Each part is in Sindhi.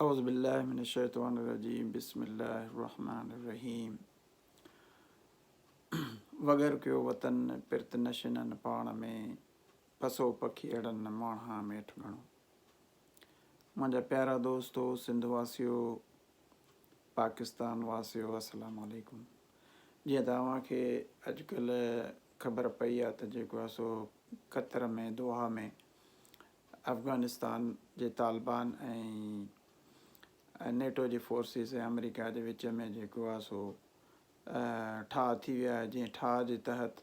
اعوذ بالله من الشيطان الرجيم بسم الله الرحمن الرحيم وگر ڪيو وطن پرت نشنن پاڻ ۾ پسو پکي اڙن ماڻها ميٺ گھڻو منهنجا پيارا دوستو سنڌ واسيو پاڪستان واسيو السلام عليڪم جيئن ته اوهان کي اڄڪلهه خبر پئي آهي ته جيڪو آهي سو قطر ۾ دوحا ۾ افغانستان جي طالبان ۽ نيٽو جي فورسز ۽ آمريڪا جي وچ ۾ جيڪو آهي سو ٺاهه ٿي ويو آهي جنهن ٺاهه جي تحت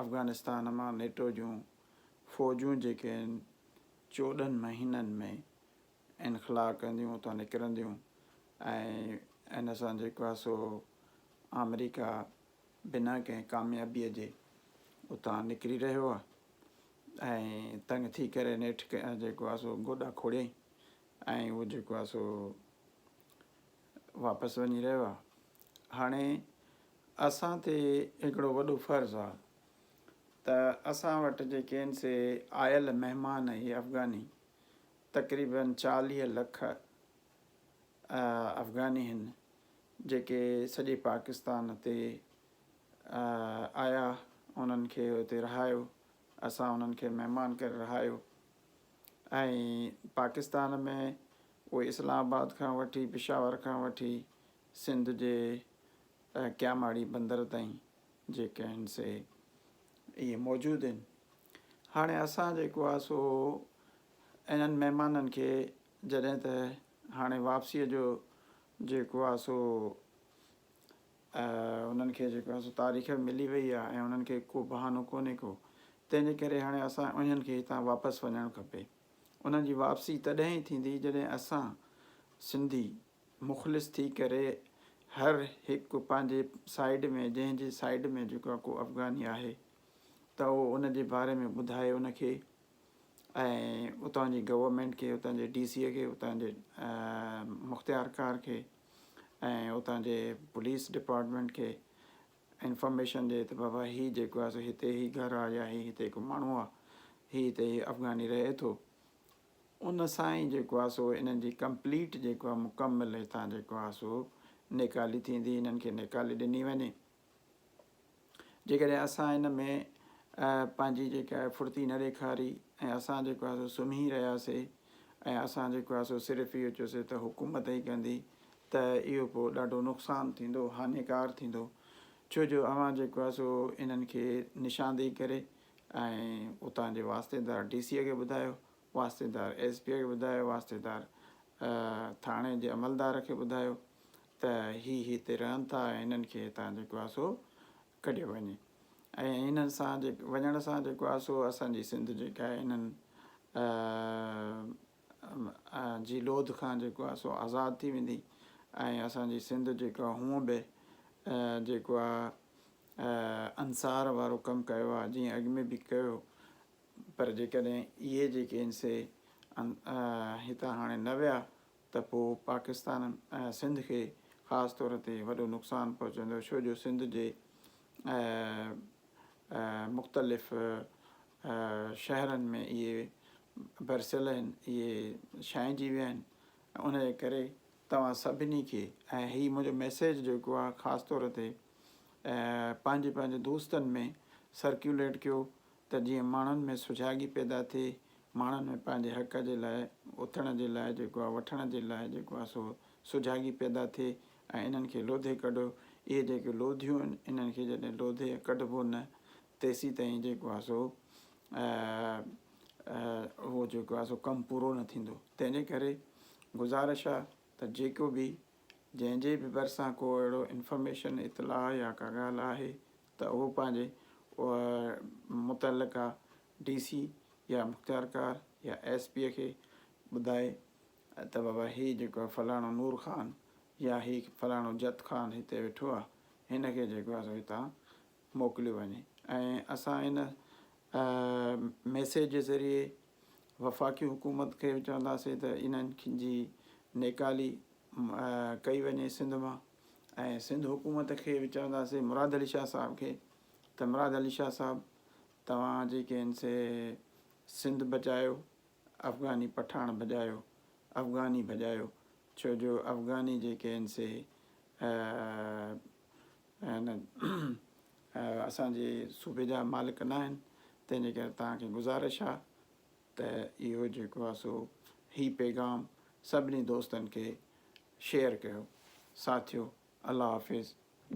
افغانستان مان نيٽو جون فوجون جيڪي آهن چوڏهن مهينن ۾ انخلا ڪنديون اتان نڪرنديون ۽ ان سان جيڪو آهي سو آمريڪا بنا ڪنهن ڪاميابيء جي اتان نڪري رهيو آهي ۽ تنگ ٿي ڪري نيٺ جيڪو آهي سو گوڏا کوڙيائين ۽ اهو جيڪو آهي سو واپس وڃي رهيو آهي هاڻي اسان تي هڪڙو وڏو فرض آهي ته اسان وٽ جيڪي آهن سي آيل مهمان اهي افغاني تقريبن چاليهه لک افغاني آهن جيڪي سڄي پاڪستان تي آيا انهن کي اتي رهايو اسان انهن کي مهمان ڪري رهايو ۽ پاڪستان ۾ اهي اسلام آباد کان وٺي پشاور کان وٺي سنڌ جي ڪياماڙي بندر تائين جيڪي آهن سي اهي موجود آهن هاڻي اسان جيڪو آهي سو انهن مهمانن کي جڏهن ته هاڻي واپسيء جو جيڪو آهي سو انهن کي جيڪو آهي سو تاريخ ملي وئي آهي ۽ انهن کي ڪو بهانو ڪونهي ڪو تنهن جي ڪري هاڻي اسان انهن کي هتان واپس وڃڻ کپي انهن جي واپسي تڏهن ئي ٿيندي جڏهن اسان سنڌي مخلص ٿي ڪري هر هڪ پنهنجي سائيڊ ۾ جنهن جي سائيڊ ۾ جيڪو ڪو افغاني آهي ته اهو ان جي باري ۾ ٻڌائي ان کي ۽ اتان جي گورنمينٽ کي اتان جي ڊي سي اي کي اتان جي مختيارڪار کي ۽ اتان جي پوليس ڊپارٽمينٽ کي انفارميشن ڏي ته بابا هي جيڪو آهي سو هتي هي گهر آهي يا هي هتي هڪ ماڻهو آهي هي هتي هي افغاني رهي ٿو ان سان ئي جيڪو آهي سو انهن جي ڪمپليٽ جيڪو آهي مڪمل هتان جيڪو آهي سو نيڪالي ٿيندي انهن کي نيڪالي ڏني وڃي جيڪڏهن اسان ان ۾ پنهنجي جيڪا آهي ڦڙتي نه ڏيکاري ۽ اسان جيڪو آهي سو سمهي رهياسي ۽ اسان جيڪو آهي سو صرف اهو چيوسي ته حڪومت ئي ڪندي ته اهو پوء ڏاڍو نقصان ٿيندو هاڃيڪار ٿيندو ڇو جو اوهان جيڪو آهي سو انهن کي نشاندهي ڪري ۽ اتان جي واسطيدار ڊي سيء کي ٻڌايو واسطيدار ايس پيء کي ٻڌايو واسطيدار ٿاڻي جي عملدار کي ٻڌايو ته هي هتي رهن ٿا ۽ هنن کي هتان جيڪو آهي سو ڪڍيو وڃي ۽ هنن سان وڃڻ سان جيڪو آهي سو اسان جي سنڌ جيڪا آهي هنن جي لوڌ کان جيڪو آهي سو آزاد ٿي ويندي ۽ اسان جي سنڌ جيڪو آهي هونء به جيڪو آهي انصار وارو ڪم ڪيو آهي جيئن اڳ ۾ به ڪيو پر جيڪڏهن اهي جيڪي آهن سي هتان هاڻي نه ويا ته پوء پاڪستان ۽ سنڌ کي خاص طور تي وڏو نقصان پهچندو ڇو جو سنڌ جي مختلف شهرن ۾ اهي برسيل آهن اهي ڇائنجي ويا آهن ان جي ڪري توهان سڀني کي ۽ هي منهنجو ميسيج جيڪو آهي خاص طور تي پنهنجي پنهنجي دوستن ۾ سرڪيوليٽ ڪيو ته جيئن ماڻهن ۾ سجاڳي پيدا ٿئي، ماڻهن ۾ پنهنجي حق جي لاء اٿڻ جي لاء جيڪو آ وٺڻ جي لاء جيڪو آ سو سجاڳي پيدا ٿئي ۽ انهن کي لوڌي ڪڍو، اهي جيڪي لوڌيون آهن انهن کي جڏهن لوڌي ۽ ڪڍبو نه تيسيتائين جيڪو آ سو اهو جيڪو آ سو ڪم پورو نه ٿيندو، تنهن جي ڪري گذارش آ ته جيڪو به جنهن جي به ڀرسان ڪو اهڙو انفارميشن اطلاع يا ڪا ڳالهه آهي ته هو پنهنجي متعلقه ڊي سي يا مختيارڪار يا ايس پيء کي ٻڌائي ته بابا هي جيڪو آهي فلاڻو نور خان يا هي فلاڻو جت خان هتي ويٺو آهي هن کي جيڪو آهي سو هتان موڪليو وڃي ۽ اسان هن ميسيج جي ذريعي وفاقي حڪومت کي به چونداسين ته انهن جي نيڪالي ڪئي وڃي سنڌ مان ۽ سنڌ حڪومت کي به چونداسي مراد علي شاهه صاحب کي ته مراد علي شاهه صاحب توهان جيڪي ان سي سنڌ بچايو افغاني پٺاڻ ڀڄايو افغاني ڀڄايو ڇو جو افغاني جيڪي ان سي اسان جي صوبي جا مالڪ نه آهن تنهن جي ڪري توهان کي گذارش آهي ته اهو جيڪو آهي سو هي پيغام سڀني دوستن کي شيئر ڪيو ساٿيو الله حافظ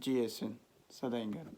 جيئي سنڌ سدائين گڏ.